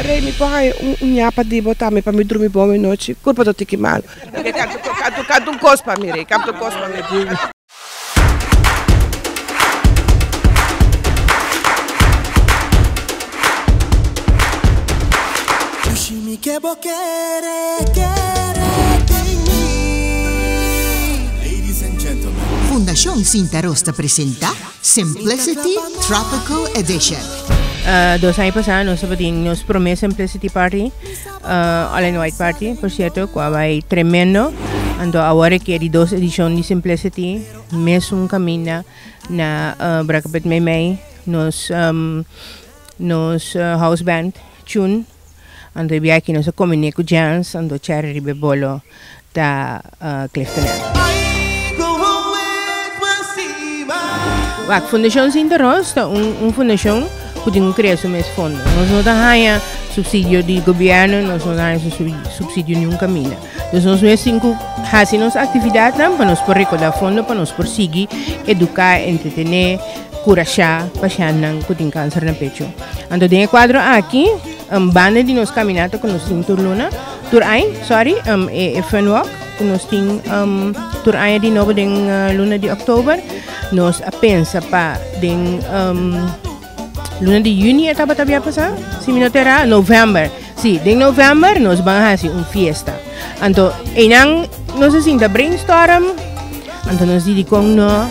Rey mi por haña un uña pa di bo tambe pa mi drumi bon e nochi kurpa do tiki malo. Canta un cos pa mi rey canta un cos pa mi. Fundacion Sinta Ros ta presenta. Simplicity Tropical Edition. Dos aña pasá nos tabatin nos promé Simplicity Party, uh, All in White Party, por cierto, cu a bai tremendo. Anto awor e di dos edicion di Simplicity, mesun caminda na uh, Brakapet Meimei, nos, um, nos uh, house band, Tune, Anto e biachi nos a cominé cu Jans, anto Cherry riba e bolo ta Cliftonel. Wak, Fundacion Sinta Roos ta un, un fundacion cu tin un crea su mes fondo. Nos no ta haya subsidio di gobierno, nos no ta haya subsidio niun camina. Dus nos mes tin cu haci nos actividadnan pa nos por recorda fondo, pa nos por sigui educa, entretené, curasha pashannan cu tin cancer na pecho. Anto den e cuadro aki, um, banda di nos caminata cu nos tin Turluna, Tur'ai, sorry, um, e, e Fun Walk, cu nos tin um, Tur'ai di nobo den uh, luna di oktober, nos a pensa pa den um, luna di juni e tabata bia pasa, si mi no terra, november. Si, den november nos van a hacer un fiesta. Anto, einan nos a sinta brainstorm, anto nos didicon no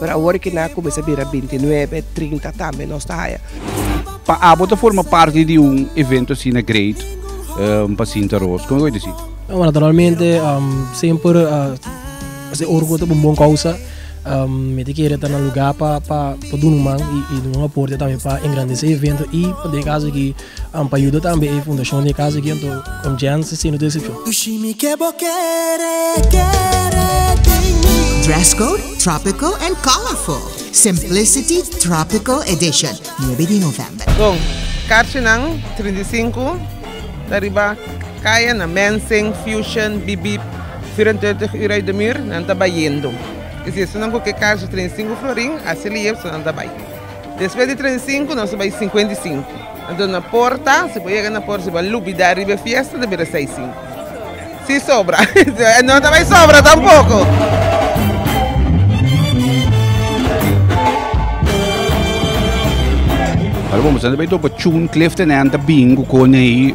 Pero awor ke nan a kuminsá bira binti nuebe, trinta tambe nos ta haya. Pa abo ta forma parti di un evento asina great pa Sinta Roos? Kon e ku ta disi? Naturalmente semper esei orgo ta pa un bon kousa. Mi ta kere ta na lugá pa duna un man i duna un aporte tambe pa engrandesé e evento i pa den kaso aki. An pa yuda tambe e fundashon di e Casa di Gento con Janssen sino decepcion. Dress code tropical and colorful, Simplicity Tropical Edition, nuebe di November. Con carchinan trinta i sinku ta riba caya na Mensing, Fusion, Bip Bip, Vierendertig Uur Uit De Muur nan ta bayendo. Esnan cu ke carchi trinta i sinku florin a celebr so nan ta bay. Despues di trenta i sinku nos a bai sinkuenta i sinku. Anto na por ta, si bo yega na por, si bo a lubida riba e fiesta ta bira seis sinku. Si sobra, no ta bai sobra tampoko. Ora bo mester ta bai dopo chun Clifton and ta bingo con e.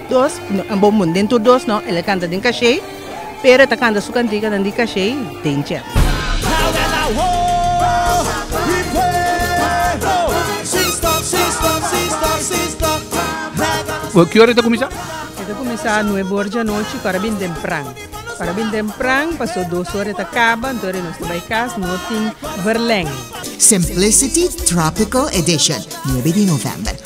Dos bo mun den tur dos no el a canta den cachey pero el ta canta su cantica nan di cachey den chef. Ki ora e ta cuminsa? E ta cuminsa nuebe ora djanochi para bin tempran para bin tempran paso dos ora e ta caba anto ora nos ta bay cas no tin verleng. Simplicity Tropical Edition, nuebe di November.